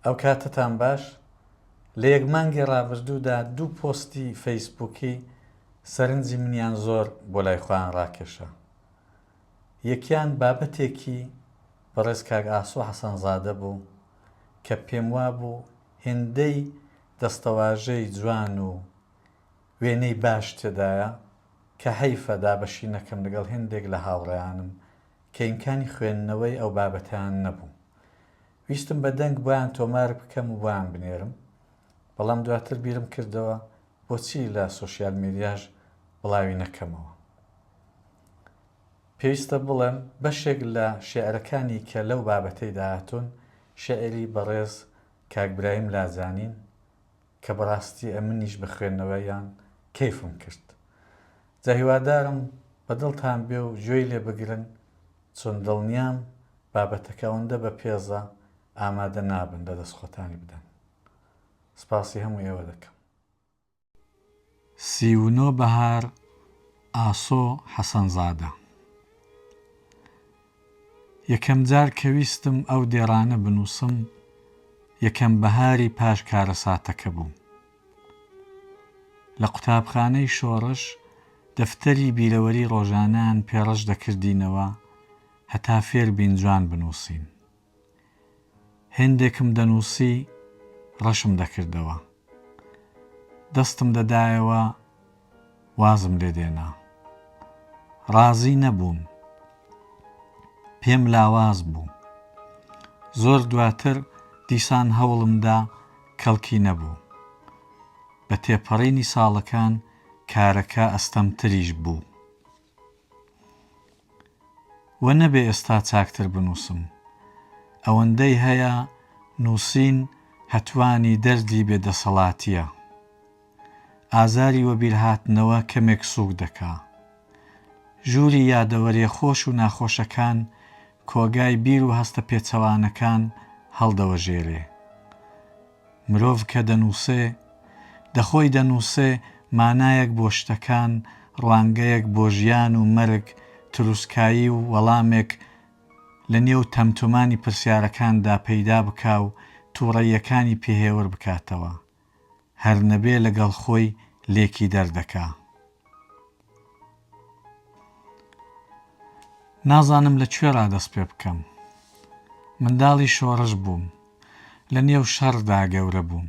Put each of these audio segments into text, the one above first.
ئەو کاتەتان باش، لە یەک مانگی ڕابردوودا دوو پۆستی فەیسبووکی سەرنجی منیان زۆر بۆ لای خۆیان ڕاکێشا. یەکیان بابەتێکی بەڕێز کاک ئاسۆ حەسەنزادە بوو کە پێموابوو هێندەی دەستەواژەی جوان و وێنەی باش تێدایە کە هەیفە دابەشی نەکەم لەگەڵ هێندێک لە هاوڕێیانم کە ئیمکانی خوێندنەوەی ئەو بابەتەیان نەبوو. ویستم بە دەنگ بۆیان تۆمار بکەم و بۆیان بنێرم، بەڵام دواتر بیرم کردەوە بۆچی لە سۆشیال میدیاش بڵاوی نەکەمەوە. پێویستە بڵێم بەشێک لە شێعرەکانی کە لەو بابەتەیدا هاتوون، شێعری بەڕێز کاک برایم لاجانین، کە بەڕاستی ئەمنیش بە خوێندنەوەیان کەیفم کرد جا هیوادارم بە دڵتان بێ و گوێی لێ بگرن چون دڵنیام بابەتەکە ئەوەندە بە پێزە ئامادە نابن لە دەست خۆتانی بدەن سپاسی هەموو ئێوە دەکەم سی و نۆ بەهار ئاسۆ حەسەنزادە یەکەم جار کە ویستم ئەو دێڕانە بنووسم، یەکەم بەهاری پاش کارەساتەکە بوو. لە قوتابخانەی شۆڕش دەفتەری بیرەوەری ڕۆژانەیان پێ ڕەش دەکردینەوە هەتا فێر بین جوان بنووسین. هێندێکم دەنووسی ڕەشم دەکردەوە. دەستم دەدایەوە وازم لێ دێنا. ڕازی نەبووم. پێم لاواز بوو. زۆر دواتر دیسان هەوڵم دا کەڵکی نەبوو. بە تێپەڕینی ساڵەکان کارەکە ئەستەمتریش بوو. وە نەبێ ئێستا چاکتر بنووسم. ئەوەندەی هەیە نووسین هەتوانی دەردی بێ دەسەڵاتیە. ئازاری وەبیرهاتنەوە کەمێک سووک دەکا. ژووری یادەوەریە خۆش و ناخۆشەکان کۆگای بیر و هەستە پێچەوانەکان هەڵدەوەژێرێ. مرۆڤ کە دەنووسێ، دە خۆی دەنووسێ، مانایەک بۆ شتەکان، ڕوانگەیەک بۆ ژیان و مەرگ، تروسکایی و وەڵامێک لە نێو تەمتومانی پرسیارەکاندا پەیدا بکا و تووڕەییەکانی پێهێور بکاتەوە. هەر نەبێ لەگەڵ خۆی لێکی دەردەکا. نازانم لە کوێڕا دەست پێ بکەم. منداڵی شۆڕش بووم. لە نێو شەڕدا گەورە بووم.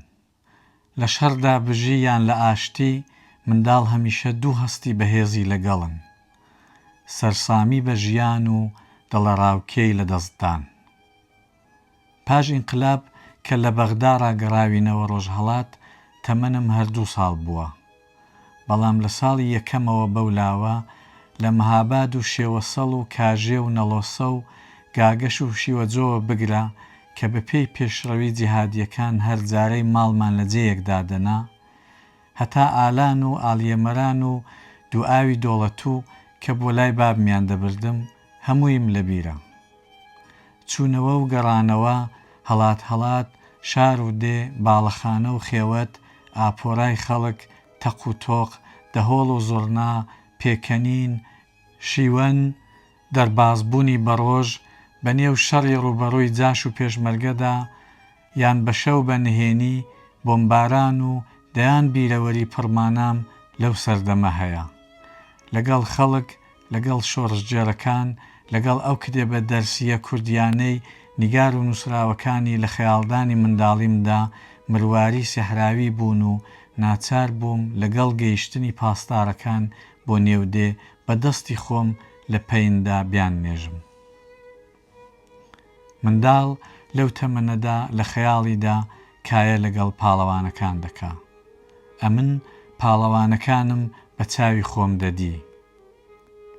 لە شەڕدا بژی یان لە ئاشتی، منداڵ هەمیشە دوو هەستی بەهێزی لەگەڵن. سەرسامی بە ژیان و دڵەڕاوکێی لەدەستدان. پاش ئینقلاب کە لە بەغدا ڕاگەڕاوینەوە ڕۆژهەڵات تەمەنم هەر دوو ساڵ بووە، بەڵام لە ساڵی یەکەمەوە بەو لاوە لە مهاباد و شێوەسەڵ و کاژێ و نەڵۆسە و گاگەش و شیوەجۆوە بگرە کە بە پێی پێشڕەوی جیهادییەکان هەر جارەی ماڵمان لە جێیەک دادەنا هەتا ئالان و ئاڵیەمەران و دووئاوی دۆڵەتوو کە بۆ لای بابمیان دەبردم هەموویم لە بیرە. چوونەوە و گەڕانەوە، هەڵات هەڵات، شار و دێ، باڵەخانە و خێوەت، ئاپۆرای خەڵک، تەق و تۆق، دەهۆڵ و زوڕنا، پێکەنین، شیوەن، دەربازبوونی بەڕۆژ، بەنێو شەڕی ڕووبەڕووی جاش و پێشمەرگەدا، یان بە شەو بە نهێنی بۆمباران و دەیان بیرەوەری پڕمانام لەو سەردەمە هەیە. لەگەڵ خەڵک، لەگەڵ شۆڕشگێڕەکان، لەگەڵ ئەو کتێبە دەرسییە کوردییانەی نیگار و نووسراوەکانی لە خەیاڵدانی منداڵیمدا مرواری سەحراوی بوون و ناچار بووم لەگەڵ گەیشتنی پاسدارەکان بۆ نێو دێ بە دەستی خۆم لە پەیندا بیاننێژم. منداڵ لەو تەمەنەدا لە خەیاڵیدا کایە لەگەڵ پاڵەوانەکان دەکا. ئەمن پاڵەوانەکانم بە چاوی خۆم دەدی.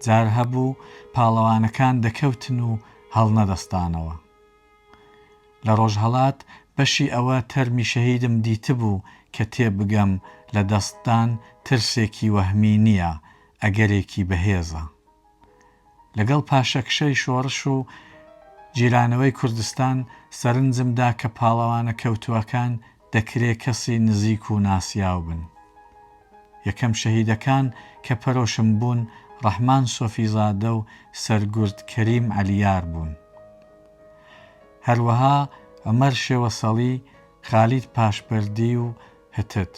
جار هەبوو پاڵەوانەکان دەکەوتن و هەڵنەدەستانەوە. لە ڕۆژهەڵات بەشی ئەوە تەرمی شەهیدم دیتبوو کە تێبگەم لە دەستدان ترسێکی وەهمی نییە، ئەگەرێکی بەهێزە. لەگەڵ پاشەکشەی شۆڕش و گیرانەوەی کوردستان سەرنجم دا کە پاڵەوانە کەوتووەکان دەکرێ کەسی نزیک و ناسیاو بن. یەکەم شەهیدەکان کە پەرۆشم بوون ڕەحمان سۆفیزادە و سەرگورد کەریم عەلیار بوون. هەروەها عومەر شێوەسەڵی، خالید پاشبەردی و هتد.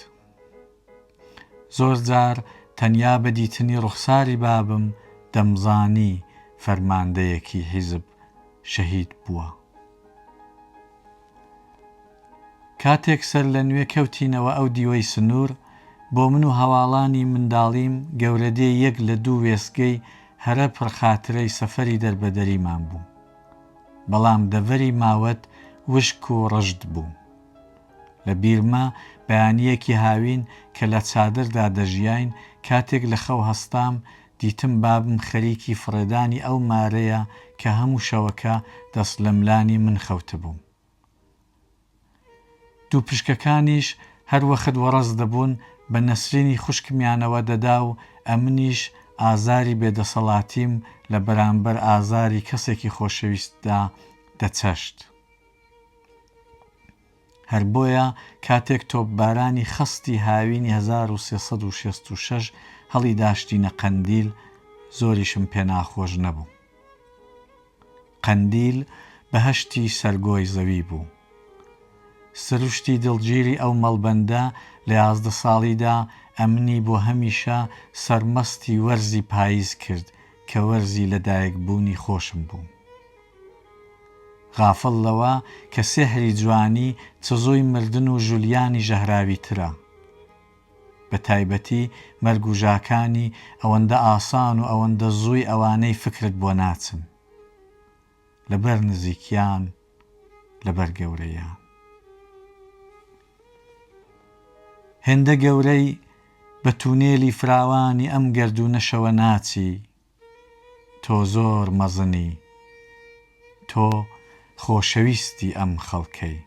زۆر جار تەنیا بە دیتنی ڕوخساری بابم دەمزانی فەرماندەیەکی حیزب شەهید بووە. کاتێک سەرلەنوێ کەوتینەوە ئەو دیوەی سنوور، بۆ من و هەواڵانی منداڵیم گەورەدێ یەک لە دوو وێستگەی هەرە پڕخاترەی سەفەری دەربەدەریمان بوو. بەڵام دەڤەری ماوەت وشک و ڕژد بوو. لە بیرمە بەیانییەکی هاوین کە لە چادردا دەژیاین، کاتێک لە خەو هەستام، دیتم بابم خەریکی فڕێدانی ئەو مارەیە کە هەموو شەوەکە دەست لەملانی من خەوتبوو. دوو پشکەکانیش هەر وەخت وەڕەز دەبوون، بە نەسرینی خوشکمیانەوە دەدا و ئەمنیش ئازاری بێدەسەڵاتیم لە بەرانبەر ئازاری کەسێکی خۆشەویستدا دەچەشت. هەر بۆیە کاتێک تۆپبارانی خەستی هاوینی هەزار و سێ سەد و شەست و شەش هەڵیداشتینە قەندیل زۆریشم پێ ناخۆش نەبوو. قەندیل بەهەشتی سەرگۆی زەوی بوو. سروشتی دڵگیری ئەو مەڵبەندە لە یازدە ساڵیدا ئەمنی بۆ هەمیشە سەرمەستی وەرزی پاییز کرد کە وەرزی لەدایکبوونی خۆشم بوو. غافڵ لەوە کە سێحری جوانی چزۆی مردن و ژولیانی ژەهراوی ترە. بە تایبەتی مەرگ و ژاکانی ئەوەندە ئاسان و ئەوەندە زووی ئەوانەی فکرت بۆ ناچن. لە بەر نزیکیان لە بەر گەورەیان. هێندە گەورەی بە تونێلی فراوانی ئەم گەردوونەشەوە ناچی. تۆ زۆر مەزنی تۆ خۆشەویستی ئەم خەڵکەی.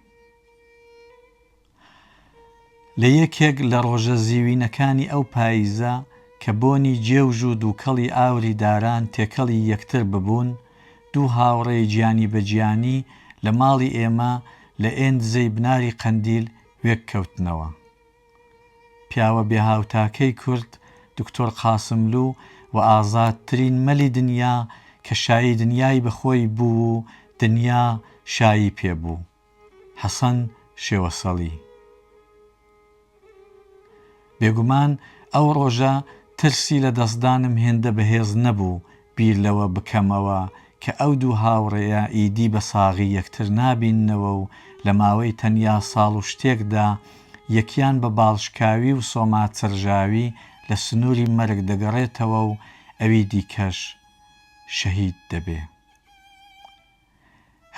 لە یەکێک لە ڕۆژە زیوینەکانی ئەو پاییزە کە بۆنی جێوژ و دووکەڵی ئاوری داران تێکەڵی یەکتر ببوون، دوو هاوڕێی جیانی بە جیانی لە ماڵی ئێمە لە ئێندزەی بناری قەندیل وێک کەوتنەوە. پیاوە بێ هاوتاکەی کورد دکتۆر قاسملوو و ئازاد ترین مەلی دنیا کە شایی دنیای بە خۆی بوو و دنیا شایی پێ بوو حەسەن شێوەسەڵی. بێگومان ئەو ڕۆژە ترسی لە دەستدانم هێندە بەهێز نەبوو بیر لەوە بکەمەوە کە ئەو دوو هاوڕێیە ئیدی بە ساغی یەکتر نابیننەوە و لە ماوەی تەنیا ساڵ و شتێکدا یەکیان بە باڵشکاوی و سۆما چرژاوی لە سنووری مەرگ دەگەڕێتەوە و ئەوی دیکەش شەهید دەبێ.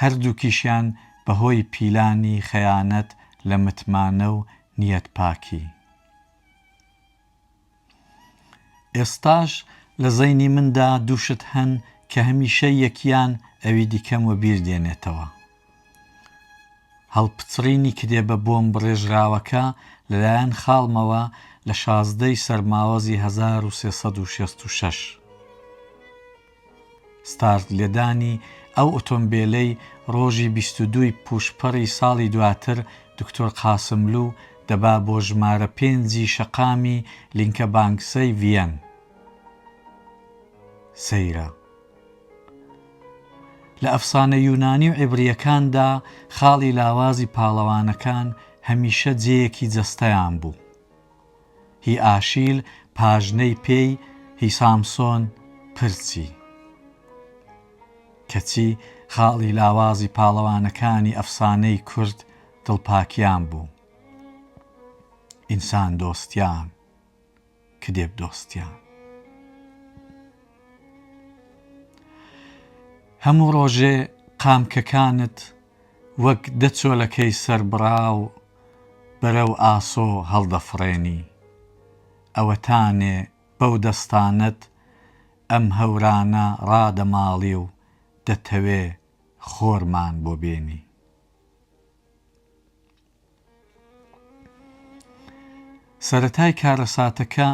هەردووکیشیان بە هۆی پیلانی خەیانەت لە متمانە و نیەتپاکی. ئێستاش لە زەینی مندا دوو شت هەن کە هەمیشە یەکیان ئەوی دیکەم وەبیر دێنێتەوە، هەڵپچڕینی کتێبە بۆم بڕێژراوەکە لەلایەن خاڵمەوە لە شازدە ی سەرماوەزی هەزار و سێ سەد و شەست و شەش. ستارت لێدانی ئەو ئۆتۆمبێلەی ڕۆژی بیست و دوو ی پووشپەڕی ساڵی دواتر دکتۆر قاسملوو دەبا بۆ ژمارە پێنج ی شەقامی لینکە بانکسەی ڤییەن سەیرە. لە ئەفسانە یوونانی و عیبرییەکاندا خاڵی لاوازی پاڵەوانەکان هەمیشە جێیەکی جەستەیان بوو. هی ئاشیل پاژنەی پێی هی سامسۆن پرچی کەچی خاڵی لاوازی پاڵەوانەکانی ئەفسانەی کورد دڵپاکیان بوو ئینسان دۆستیان کدێب دۆستیان هەموو ڕۆژێ قامکەکانت وەک دە چۆلەکەی سەربڕاو بەرەو ئاسۆ هەڵدەفڕێنی. ئەوەتانێ بەو دەستانەت ئەم هەورانە ڕادەماڵی و دەتەوێ خۆرمان بۆ بێنی. سەرەتای کارەساتەکە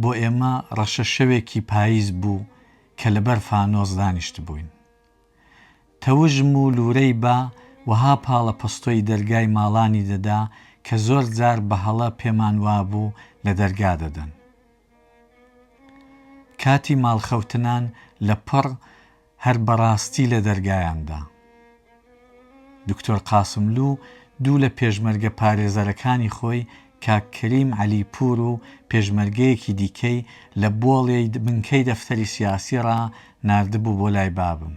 بۆ ئێمە ڕەشەشەوێکی پاییز بوو کە لەبەر فانۆس دانیشتبووین. تەوژم و لورەی با وەها پاڵە پەستۆی دەرگای ماڵانی دەدا کە زۆر جار بە هەڵە پێمان وابوو لە دەرگا دەدەن. کاتی ماڵ خەوتنان لە پڕ هەر بە ڕاستی لە دەرگایان دا. دکتۆر قاسملوو دوو لە پێشمەرگە پارێزەرەکانی خۆی کاک کەریم عەلی پوور و پێشمەرگەیەکی دیکەی لە بۆڵێی بنکەی دەفتەری سیاسی ڕا ناردبوو بۆ لای بابم.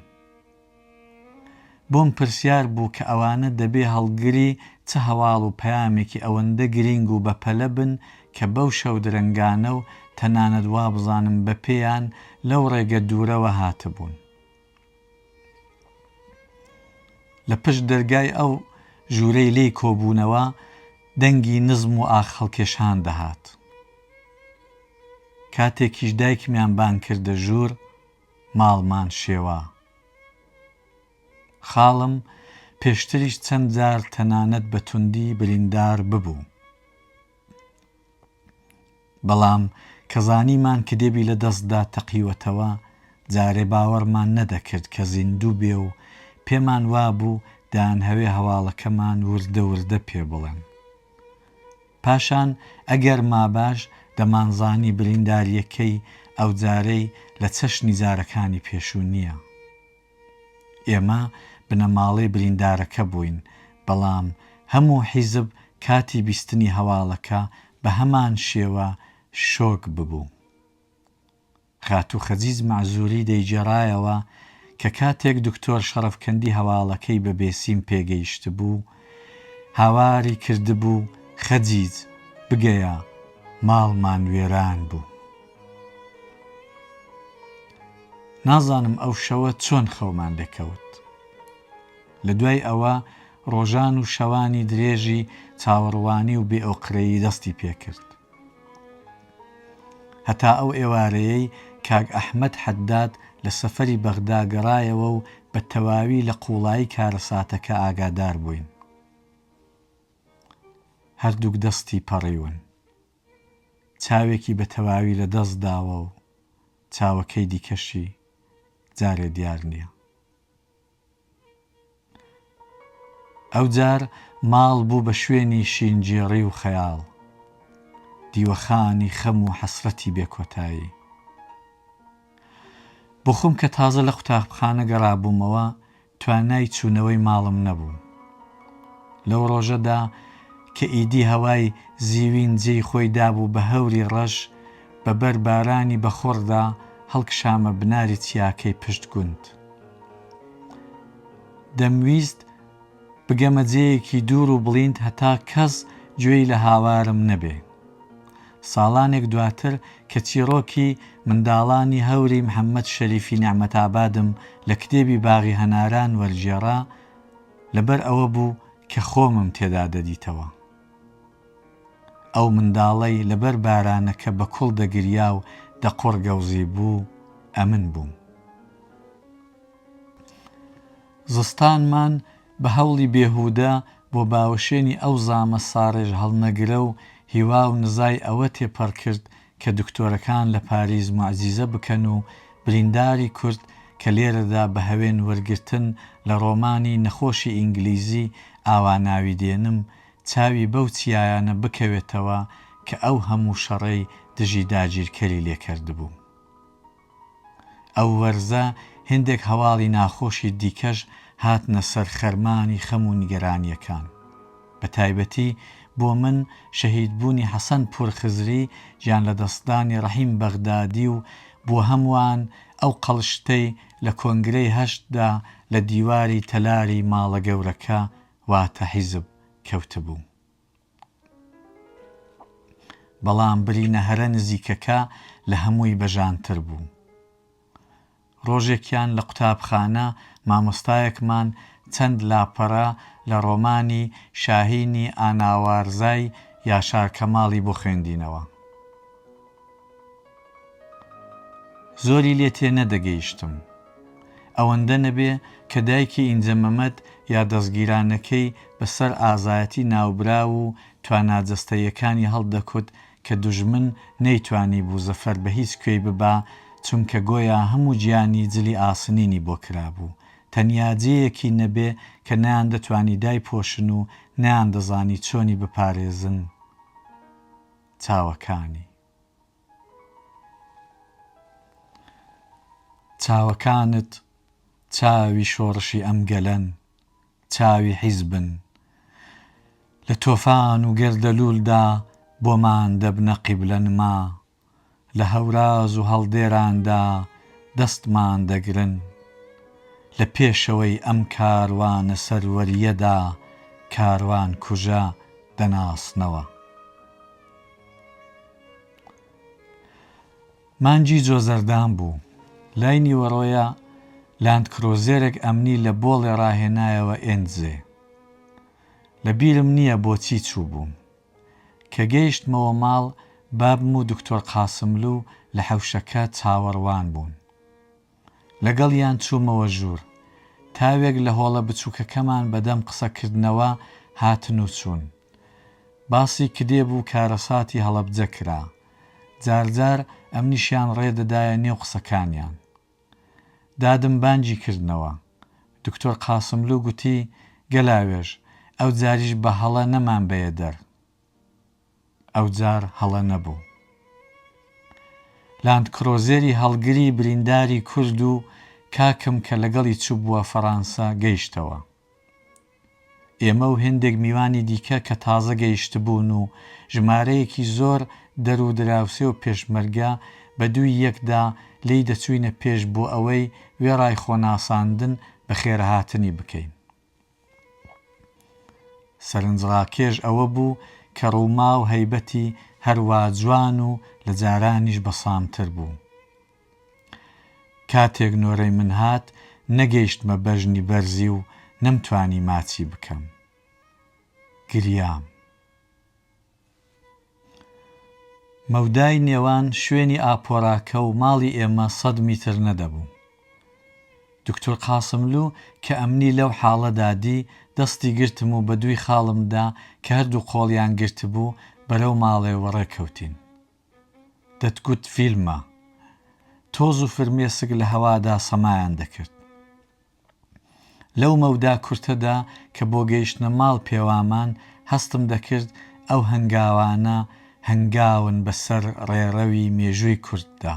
بۆم پرسیار بوو کە ئەوانە دەبێ هەڵگری چ هەواڵ و پەیامێکی ئەوەندە گرینگ و بەپەلە بن کە بەو شەو درەنگانە و تەنانەت وابزانم بەپێیان لەو ڕێگە دوورەوە هاتبوون. لە پشت دەرگای ئەو ژوورەی لێی کۆبوونەوە دەنگی نزم و ئاخ هەڵکێشان دەهات. کاتێکیش دایکمیان بانگ کردە ژوور ماڵمان شێوا. خاڵم پێشتریش چەند جار تەنانەت بە توندی بریندار ببوو. بەڵام کە زانیمان کدێبی لە دەستدا تەقیوەتەوە، جارێ باوەڕمان نەدەکرد کە زیندوو بێ و پێمان وابوو دەانهەوێ هەواڵەکەمان وردە وردە پێ بڵێن. پاشان ئەگەر ماباش دەمانزانی بریندارییەکەی ئەوجارەی لە چەشنی جارەکانی پێشوو نییە. ئێمە بنەماڵەی بریندارەکە بووین، بەڵام هەموو حیزب کاتی بیستنی هەواڵەکە بە هەمان شێوە شۆک ببوو. خاتوو خەجیج مەعزووری دەیگێڕایەوە کە کاتێک دکتۆر شەڕەفکەندی هەواڵەکەی بە بێسیم پێگەیشتبوو، هاواری کردبوو، خەجیج، بگەیە، ماڵمان وێران بوو. نازانم ئەو شەوە چۆن خەومان دەکەوت. لە دوای ئەوە ڕۆژان و شەوانی درێژی چاوەڕوانی و بێ ئۆقرەیی دەستی پێ کرد. هەتا ئەو ئێوارەیەی کاک ئەحمەد حەداد لە سەفەری بەغدا گەڕایەوە و بە تەواوی لە قووڵایی کارەساتەکە ئاگادار بووین. هەردووک دەستی پەڕیون. چاوێکی بە تەواوی لە دەست داوە و چاوەکەی دیکەشی جارێ دیار نییە. ئەوجار ماڵ بوو بە شوێنی شینگێڕی و خەیاڵ، دیوەخانی خەم و حەسرەتی بێ کۆتایی. بۆخۆم کە تازە لە قوتابخانە گەڕابوومەوە، توانای چوونەوەی ماڵم نەبوو. لەو ڕۆژەدا کە ئیدی هەوای زیوین جێی خۆی دابوو بە هەوری ڕەش، بە بەر بارانی بە خۆڕدا هەڵکشامە بناری چیاکەی پشت گوند. دەمویست بگەمە جێیەکی دوور و بڵیند هەتا کەس گوێی لە هاوارم نەبێ. ساڵانێک دواتر کە چیڕۆکی، منداڵانی هەوری محەمەد شەریفی نێعمەتئابادم لە کتێبی باغی هەناران وەرگێڕا، لەبەر ئەوە بوو کە خۆمم تێدا دەدیتەوە. ئەو منداڵەی لەبەر بارانەکە بە کوڵ دەگریا و دەقوڕگەوزیبوو، ئەمن بووم. زستانمان، بە هەوڵی بێهوودە بۆ باوەشێنی ئەو زامە ساڕێژهەڵنەگرە و هیوا و نزای ئەوە تێپەڕ کرد کە دکتۆرەکان لە پاریس موعجیزە بکەن و برینداری کورد کە لێرەدا بە هەوێن وەرگرتن لە ڕۆمانی نەخۆشی ئینگلیزی ئاوا ناوی دێنم چاوی بەو چیایانە بکەوێتەوە کە ئەو هەموو شەڕەی دژی داگیرکەری لێ کەردبوو. ئەو وەرزە هێندێک هەواڵی ناخۆشی دیکەش هاتنە سەر خەرمانی خەم و نیگەرانییەکان. بە تایبەتی بۆ من شەهیدبوونی حەسەن پوور خزری، گیانلەدەستدانی ڕەحیم بەغدادی و بۆ هەمووان ئەو قەڵشتەی لە کۆنگرەی هەشت دا لە دیواری تەلاری ماڵە گەورەکە واتە حیزب کەوتبوو. بەڵام برینە هەرە نزیکەکە لە هەمووی بەژانتر بوو. ڕۆژێکیان لە قوتابخانە مامۆستایەکمان چەند لاپەڕە لە ڕۆمانی شاهینی ئاناوارزای یاشار کەماڵی بۆ خوێندینەوە. زۆری لێ تێ نەدەگەیشتم. ئەوەندە نەبێ کە دایکی ئینجە مەمەد یا دەسگیرانەکەی بە سەر ئازایەتی ناوبراو و توانا جەستەییەکانی هەڵدەکوت کە دوژمن نەیتوانیبوو زەفەر بە هیچ کوێی ببا چونکە گۆیا هەموو جیانی جلی ئاسنینی بۆ کرابوو تەنیا جێیەکی نەبێ کە نەیاندەتوانی دایپۆشن و نەیاندەزانی چۆنی بپارێزن چاوەکانی. چاوەکانت چاوی شۆڕشی ئەم گەلەن، چاوی حیزبن، لە تۆفان و گەردەلوولدا بۆمان دەبنە قیبلە نما، لە هەوراز و هەڵدێراندا دەستمان دەگرن. لە پێشەوەی ئەم کاروانە سەروەرییەدا کاروانکوژە دەناسنەوە. مانگی جۆزەردان بوو. لای نیوەڕۆیە لاندکرۆزێرێک ئەمنی لە بۆڵێ ڕاهێنایەوە ئێنزێ. لە بیرم نییە بۆچی چووبووم. کە گەیشتمەوە ماڵ، بابم و دکتۆر قاسملوو لە حەوشەکە چاوەڕوان بوون. لەگەڵیان چوومەوە ژوور. تاوێک لە هۆڵە بچووکەکەمان بەدەم قسەکردنەوە هاتن و چوون. باسی کتێب و کارەساتی هەڵەبجە کرا. جارجار ئەمنیشیان ڕێ دەدایە نێو قسەکانیان. دادم بانگی کردنەوە. دکتۆر قاسملوو گوتی، گەلاوێژ، ئەوجاریش بە هەڵە نەمانبەیە دەر. ئەوجار هەڵە نەبوو. لاندکرۆزێری هەڵگری برینداری کورد و کاکم کە لەگەڵی چووبووە فەڕانسە گەیشتەوە. ئێمە و هێندێک میوانی دیکە کە تازە گەیشتبوون و ژمارەیەکی زۆر دەر و دراوسێ و پێشمەرگە بە دووی یەکدا لێی دەچووینە پێش بۆ ئەوەی وێڕای خۆناساندن بەخێرهاتنی بکەین. سەرنجڕاکێش ئەوە بوو کە ڕووما و هەیبەتی هەروا جوان و لە جارانیش بەسامتر بوو. کاتێک نۆرەی من هات نەگەیشتمە بەژنی بەرزی و نەمتوانی ماچی بکەم گریام. مەودای نێوان شوێنی ئاپۆراکە و ماڵی ئێمە سەد میتر نەدەبوو. دوکتور قاسملوو کە ئەمنی لەو حاڵەدا دی، دەستی گرتم و بە دووی خاڵمدا کە هەردوو قۆڵیان گرتبوو بەرەو ماڵێ وەڕێ کەوتین. دەتگوت فیلمە. تۆز و فرمێسک لە هەوادا سەمایان دەکرد. لەو مەودا کورتەدا کە بۆ گەیشتنە ماڵ پێوامان، هەستم دەکرد ئەو هەنگاوانە هەنگاون بە سەر ڕێڕەوی مێژووی کورددا.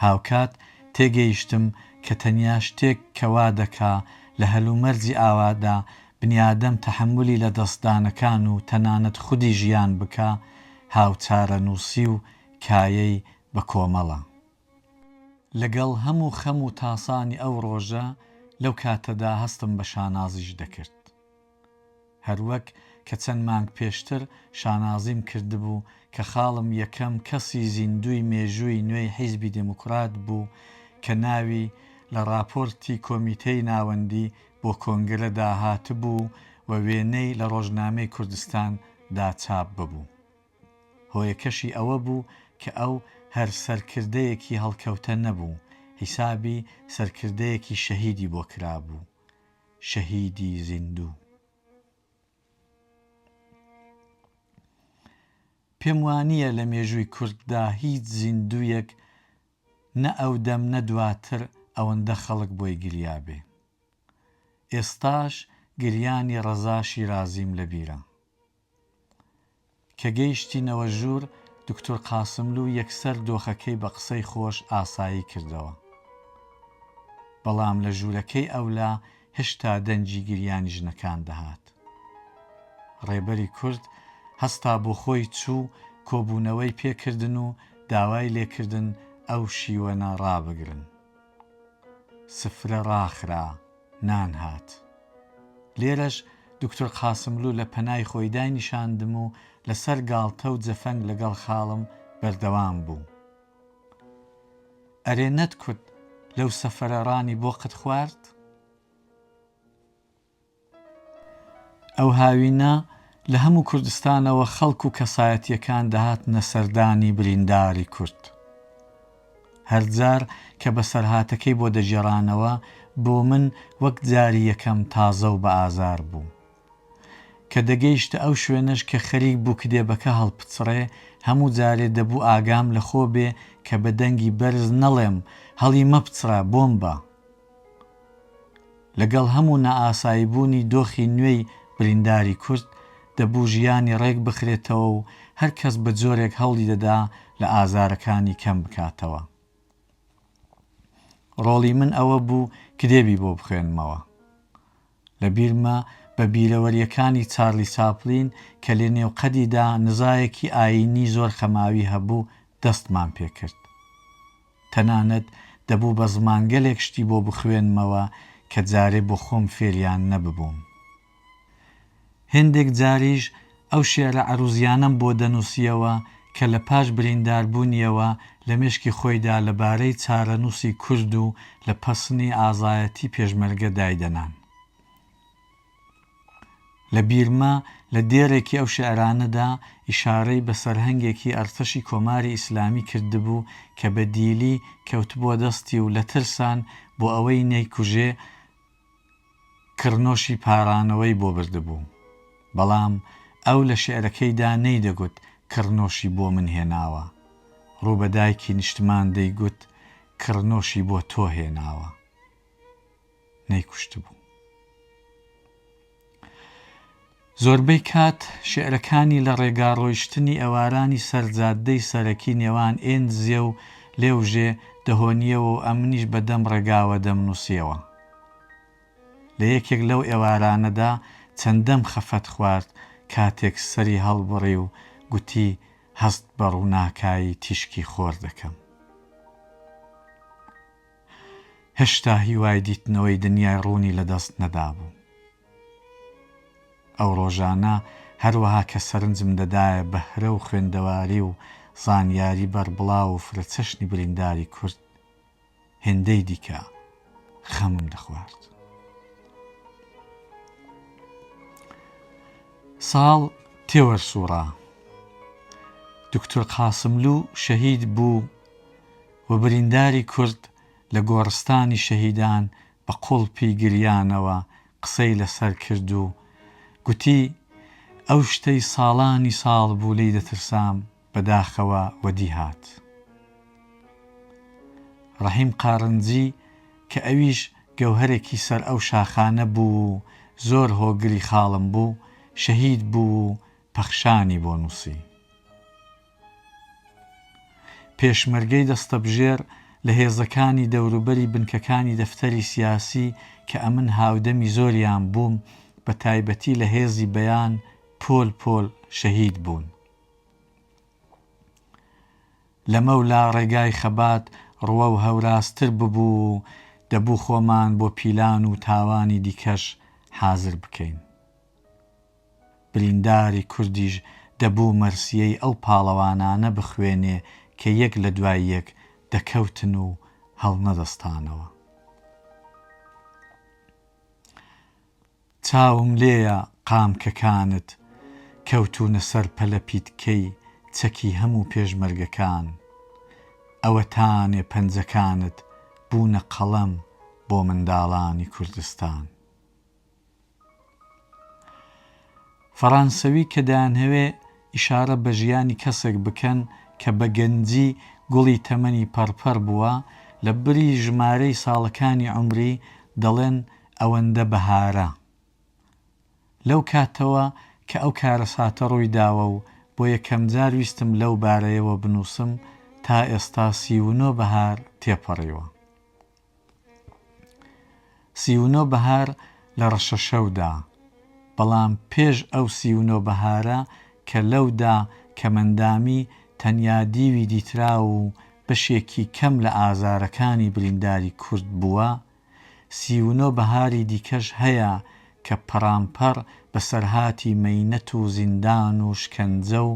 هاوکات تێگەیشتم کە تەنیا شتێک کە وا دەکا لە هەلومەرجی ئاوادا بنیادەم تەحەمولی لە دەستدانەکان و تەنانەت خودی ژیان بکا هاوچارەنووسی و کایەی بە کۆمەڵە. لەگەڵ هەموو خەم و تاسانی ئەو ڕۆژە لەو کاتەدا هەستم بە شانازیش دەکرد. هەروەک کە چەند مانگ پێشتر شانازیم کردبوو کە خاڵم یەکەم کەسی زیندووی مێژووی نوێی حیزبی دێموکڕات بوو کە ناوی لە ڕاپۆرتی کۆمیتەی ناوەندی بۆ کۆنگرە دا هاتبوو و وێنەی لە ڕۆژنامەی کوردستان دا چاپ ببوو. هۆیەکەشی ئەوە بوو کە ئەو هەر سەرکردەیەکی هەڵکەوتە نەبوو، حیسابی سەرکردەیەکی شەهیدی بۆ کرابوو. شەهیدی زیندوو. پێم وانییە لە مێژووی کورددا هیچ زیندوویەک نە ئەودەم نە دواتر ئەوەندە خەڵک بۆی گریابێ. ئێستاش گریانی ڕەزا شیرازیم لەبیرە. کە گەیشتینەوە ژوور، دوکتور قاسملوو یەکسەر دۆخەکەی بە قسەی خۆش ئاسایی کردەوە. بەڵام لە ژوورەکەی ئەولا هێشتا دەنگی گریانی ژنەکان دەهات. ڕێبەری کورد هەستا بۆ خۆی چوو کۆبوونەوەی پێ کردن و داوای لێ کردن ئەو شیوەنە ڕابگرن. سفرە ڕاخرا، نان هات. لێرەش دوکتور قاسملوو لە پەنای خۆی داینیشاندم و لە سەر گاڵتە و جەفەنگ لەگەڵ خاڵم بەردەوام بوو. ئەرێ نەتکوت لەو سەفرە ڕانی بۆ قت خوارد؟ ئەو هاوینە لە هەموو کوردستانەوە خەڵک و کەسایەتییەکان دەهاتنە سەردانی برینداری کورد. هەر جار کە بەسەرهاتەکەی بۆ دەگێڕانەوە، بۆ من وەک جاری یەکەم تازە و بەئازار بوو. کە دەگەیشتە ئەو شوێنەش کە خەریک بوو کتێبەکە هەڵپچڕێ، هەموو جارێ دەبوو ئاگام لە خۆ بێ کە بە دەنگی بەرز نەڵێم، هەڵیمەپچڕە، بۆمبە! لەگەڵ هەموو نائاساییبوونی دۆخی نوێی برینداری کورد، دەبوو ژیانی ڕێک بخرێتەوە و هەر کەس بە جۆرێک هەوڵی دەدا لە ئازارەکانی کەم بکاتەوە. ڕۆڵی من ئەوە بوو کتێبی بۆ بخوێنمەوە. لە بیرمە بە بیرەوەرییەکانی چارلی چاپلین کە لە نێو قەدیدا نزایەکی ئایینی زۆر خەماوی هەبوو دەستمان پێ کرد. تەنانەت دەبوو بە زمانگەلێک شتی بۆ بخوێنمەوە کە جارێ بۆ خۆم فێریان نەببووم. هێندێک جاریش ئەو شیعرە عەرووزیانەم بۆ دەنووسییەوە کە لە پاش برینداربوونییەوە لە مێشکی خۆیدا لە بارەی چارەنووسی کورد و لە پەسنی ئازایەتی پێشمەرگە دایدەنان. لە بیرمە لە دێڕێکی ئەو شیعرانەدا ئیشارەی بە سەرهەنگێکی ئەرتەشی کۆماری ئیسلامی کردبوو کە بە دیلی کەوتبووە دەستی و لە ترسان بۆ ئەوەی نەیکوژێ کڕنۆشی پارانەوەی بۆ بردبوو بەڵام ئەو لە شیعرەکەیدا نەیدەگوت کڕنۆشی بۆ من هێناوە ڕوو بە دایکی نیشتمان دەیگوت کڕنۆشی بۆ تۆ هێناوە. نەیکوشتبوو. زۆربەی کات شیعرەکانی لە ڕێگا ڕۆیشتنی ئەوارانی سەر جاددەی سەرەکی نێوان ئێنزیە و لێوژێ دەهۆنییەوە و ئەمنیش بە دەم ڕێگاوە دەمنووسییەوە. لە یەکێک لەو ئێوارانەدا چەندەم خەفەت خوارد کاتێک سەری هەڵبڕی و گوتی هەست بە ڕووناکایی تیشکی خۆر دەکەم. هێشتا هیوای دیتنەوەی دنیای ڕوونی لەدەست نەدابوو. ئەو ڕۆژانە هەروەها کە سەرنجم دەدایە بەهرە و خوێندەواری و زانیاری بەربڵاو و فرەچەشنی برینداری کورد، هێندەی دیکە خەمم دەخوارد. ساڵ تێوەرسووڕا. دوکتور قاسملوو شەهید بوو و برینداری کورد لە گۆڕستانی شەهیدان بە قوڵپی گریانەوە قسەی لەسەر کرد و گوتی، ئەو شتەی ساڵانی ساڵ بوو لێی دەترسام بە داخەوە وەدی هات. ڕەحیم قارنجی کە ئەویش گەوهەرێکی سەر ئەو شاخانە بوو و زۆر هۆگری خاڵم بوو، شەهید بوو و پەخشانی بۆ نووسی. پێشمەرگەی دەستەبژێر لە هێزەکانی دەوروبەری بنکەکانی دەفتەری سیاسی کە ئەمن هاودەمی زۆریان بووم بە تایبەتی لە هێزی بەیان پۆل پۆل شەهید بوون. لەمەولا ڕێگای خەبات ڕوە و هەوراستر ببوو و دەبوو خۆمان بۆ پیلان و تاوانی دیکەش حازر بکەین. برینداری کوردیش دەبوو مەرسیەی ئەو پاڵەوانانە بخوێنێ کە یەک لە دوای یەک دەکەوتن و هەڵنەدەستانەوە. چاوم لێیە قامکەکانت کەوتوونە سەر پەلەپیتکەی چەکی هەموو پێشمەرگەکان، ئەوەتانێ پەنجەکانت بوونە قەڵەم بۆ منداڵانی کوردستان. فەڕانسەوی کە دەیانهەوێ ئیشارە بە ژیانی کەسێک بکەن کە بە گەنجی گوڵی تەمەنی پەڕپەڕ بووە، لە بری ژمارەی ساڵەکانی عومری دەڵێن ئەوەندە بەهارە. لەو کاتەوە کە ئەو کارەساتە ڕووی داوە و بۆ یەکەمجار ویستم لەو بارەیەوە بنووسم، تا ئێستا سی و نۆ بەهار تێپەڕیوە. سی و نۆ بەهار لە ڕەشەشەودا، بەڵام پێش ئەو سی و نۆ بەهارە کە لەودا کەمئەندامی تەنیا دیوی دیتراو و بەشێکی کەم لە ئازارەکانی برینداری کورد بووە، سی و نۆ بەهاری دیکەش هەیە کە پەڕانپەڕ بەسەرهاتی مەینەت و زیندان و شکەنجە و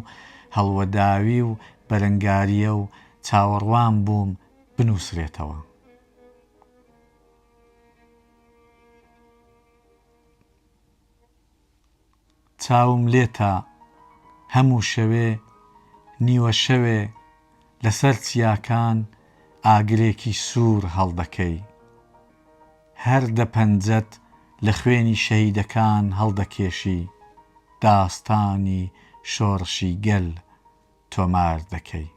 هەڵوەداوی و بەرەنگارییە و چاوەڕوان بووم بنووسرێتەوە. چاوم لێتە هەموو شەوێ نیوە شەوێ لەسەر چیاکان ئاگرێکی سوور هەڵدەکەی هەر دە پەنجەت لە خوێنی شەهیدەکان هەڵدەکێشی داستانی شۆڕشی گەل تۆمار دەکەی.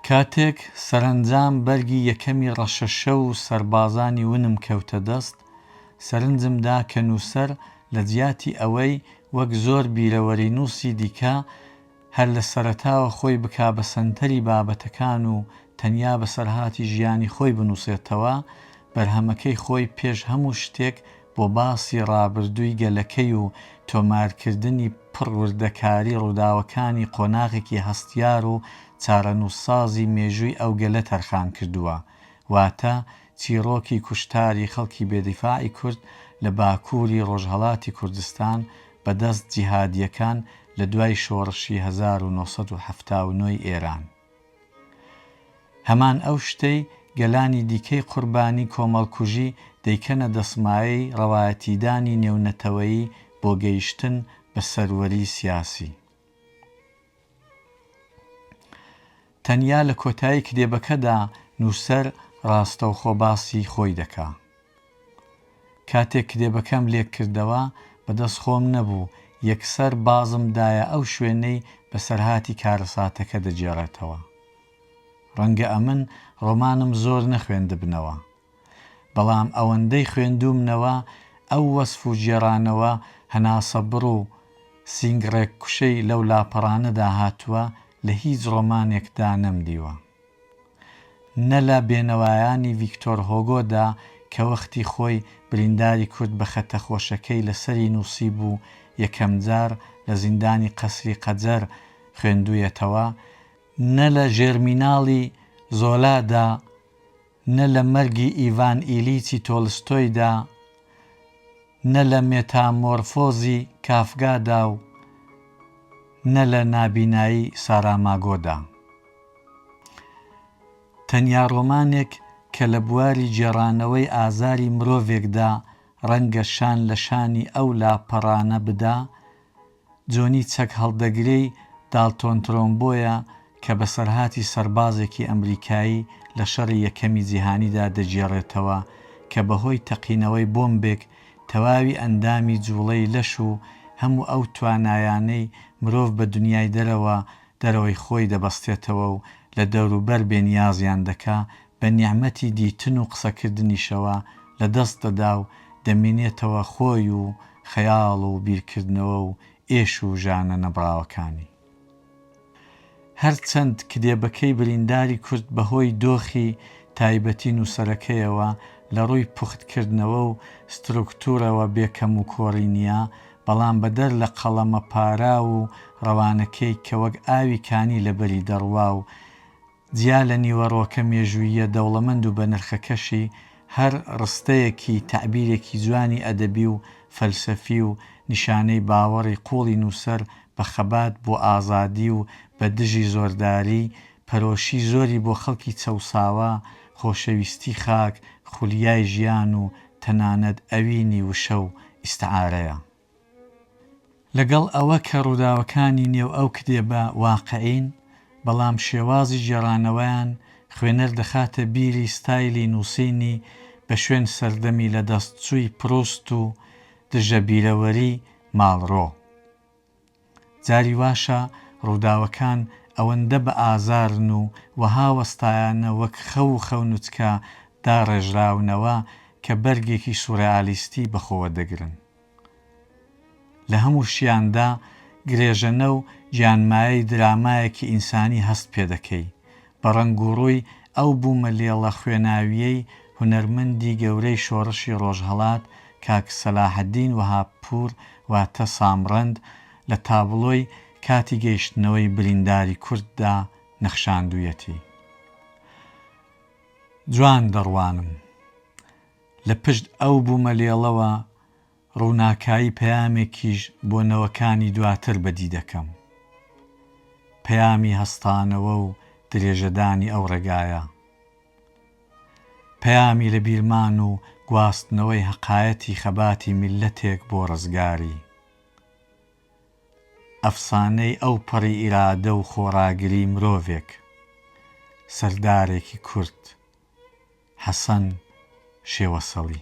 کاتێک سەرەنجام بەرگی یەکەمی ڕەشەشە و سەربازانی ونم کەوتە دەست، سەرنجم دا کە نووسەر لە جیاتی ئەوەی وەک زۆر بیرەوەرینووسی دیکە هەر لە سەرەتاوە خۆی بکا بە سەنتەری بابەتەکان و تەنیا بەسەرهاتی ژیانی خۆی بنووسێتەوە، بەرهەمەکەی خۆی پێش هەموو شتێک بۆ باسی ڕابردووی گەلەکەی و تۆمارکردنی پڕ وردەکاری ڕووداوەکانی قۆناغێکی هەستیار و چارەنووسسازی مێژووی ئەو گەلە تەرخان کردووە، واتە چیڕۆکی کوشتاری خەڵکی بێدیفاعی کورد لە باکووری ڕۆژهەڵاتی کوردستان بەدەست جیهادییەکان لە دوای شۆڕشی هەزار و نۆ سەد و حەفتا و نۆ ی ئێران. هەمان ئەو شتەی گەلانی دیکەی قوربانی کۆمەڵکوژی دەیکەنە دەسمایەی ڕەوایەتیدانی نێونەتەوەیی بۆ گەیشتن بە سەروەری سیاسی. تەنیا لە کۆتایی کتێبەکەدا نووسەر ڕاستەوخۆ باسی خۆی دەکا. کاتێک کتێبەکەم لێک کردەوە، بەدەست خۆم نەبوو، یەکسەر بازم دایە ئەو شوێنەی بەسەرهاتی کارەساتەکە دەگێڕێتەوە. ڕەنگە ئەمن ڕۆمانم زۆر نەخوێندبنەوە، بەڵام ئەوەندەی خوێندوومنەوە، ئەو وەسف و گێڕانەوە هەناسەبڕ و سینگڕێککوشەی لەو لاپەڕانەدا هاتووە، لە هیچ ڕۆمانێکدا نەمدیوە. نە لە بێنەوایانی ڤیکتۆر هۆگۆدا کە وەختی خۆی برینداری کورد بە خەتە خۆشەکەی لە سەری نووسیبوو یەکەم جار لە زیندانی قەسری قەجەر خوێندوویەتەوە، نە لە ژێرمیناڵی زۆلادا نە لە مەرگی ئیڤان ئیلیچی تۆلستۆیدا، نە لە مێتامۆرفۆزی کافگادا و نە لە نابینایی ساراماگۆدا. تەنیا ڕۆمانێک کە لە بواری گێڕانەوەی ئازاری مرۆڤێکدا ڕەنگە شان لە شانی ئەو لاپەڕانە بدا، جۆنی چەک هەڵدەگرێی داڵتۆن ترۆمبۆیە کە بەسەرهاتی سەربازێکی ئەمریکایی لە شەڕی یەکەمی جیهانیدا دەگێڕێتەوە کە بەهۆی تەقینەوەی بۆمبێک تەواوی ئەندامی جوڵەی لەش و هەموو ئەو توانایانەی مرۆڤ بە دنیای دەرەوە دەرەوەی خۆی دەبەستێتەوە و لە دەوروبەر بێنیازیان دەکا بە نیعمەتی دیتن و قسەکردنیشەوە لە دەست دەدا و دەمینێتەوە خۆی و خەیاڵ و بیرکردنەوە و ئێش و ژانە نەبڕاوەکانی. هەر چەند کدێبەکەی برینداری کورد بە هۆی دۆخی تایبەتی نووسەرەکەیەوە لە ڕووی پوخت کردنەوە و ستروکتوورەوە بێ کەم و کۆڕی نییە، بەڵام بە دەر لە قەڵەمە پاراو و ڕەوانەکەی کە وەک ئاوی کانی لە بەری دەڕوا و جیا لە نیوەڕۆکە مێژووییە دەوڵەمەند و بەنرخەکەشی، هەر ڕستەیەکی تەعبیرێکی جوانی ئەدەبی و فەلسەفی و نیشانەی باوەڕی قووڵی نووسەر بە خەبات بۆ ئازادی و بە دژی زۆرداری، پەرۆشی زۆری بۆ خەڵکی چەوساوە، خۆشەویستی خاک، خولیای ژیان و تەنانەت ئەوینی وشە و ئیستعارەیە. لەگەڵ ئەوە کە ڕووداوەکانی نێو ئەو کتێبە واقعین، بەڵام شێوازی گێڕانەوەیان خوێنەر دەخاتە بیری ستایلی نووسینی بە شوێن سەردەمی لەدەستچووی پروست و دژە بیرەوەری ماڵرۆ. جاری واشە ڕووداوەکان ئەوەندە بە ئازارن و وەها وەستایانە وەک خەو و خەونچکە داڕێژراونەوە کە بەرگێکی سورئالیستی بە خۆوە دەگرن. لە هەمووشیاندا گرێژەنە و گیانمایەی درامایەکی ئینسانی هەست پێدەکەی بە ڕەنگوڕووی ئەو بوومە لێڵە خوێناوییەی هونەرمەندی گەورەی شۆڕشی ڕۆژهەڵات کاک سەلاحەدین وەهابپوور واتە سامڕەند لە تابڵۆی کاتی گەیشتنەوەی برینداری کورددا نەخشاندوویەتی. جوان دەڕوانم. لە پشت ئەو بوومە لێڵەوە ڕووناکایی پەیامێکیش بۆ نەوەکانی دواتر بەدی دەکەم. پەیامی هەستانەوە و درێژەدانی ئەو ڕێگایە. پەیامی لەبیرمان و گواستنەوەی هەقایەتی خەباتی میللەتێک بۆ ڕزگاری. ئەفسانەی ئەوپەڕی ئیرادە و خۆڕاگری مرۆڤێک. سەردارێکی کورد. حەسەن شێوەسەڵی.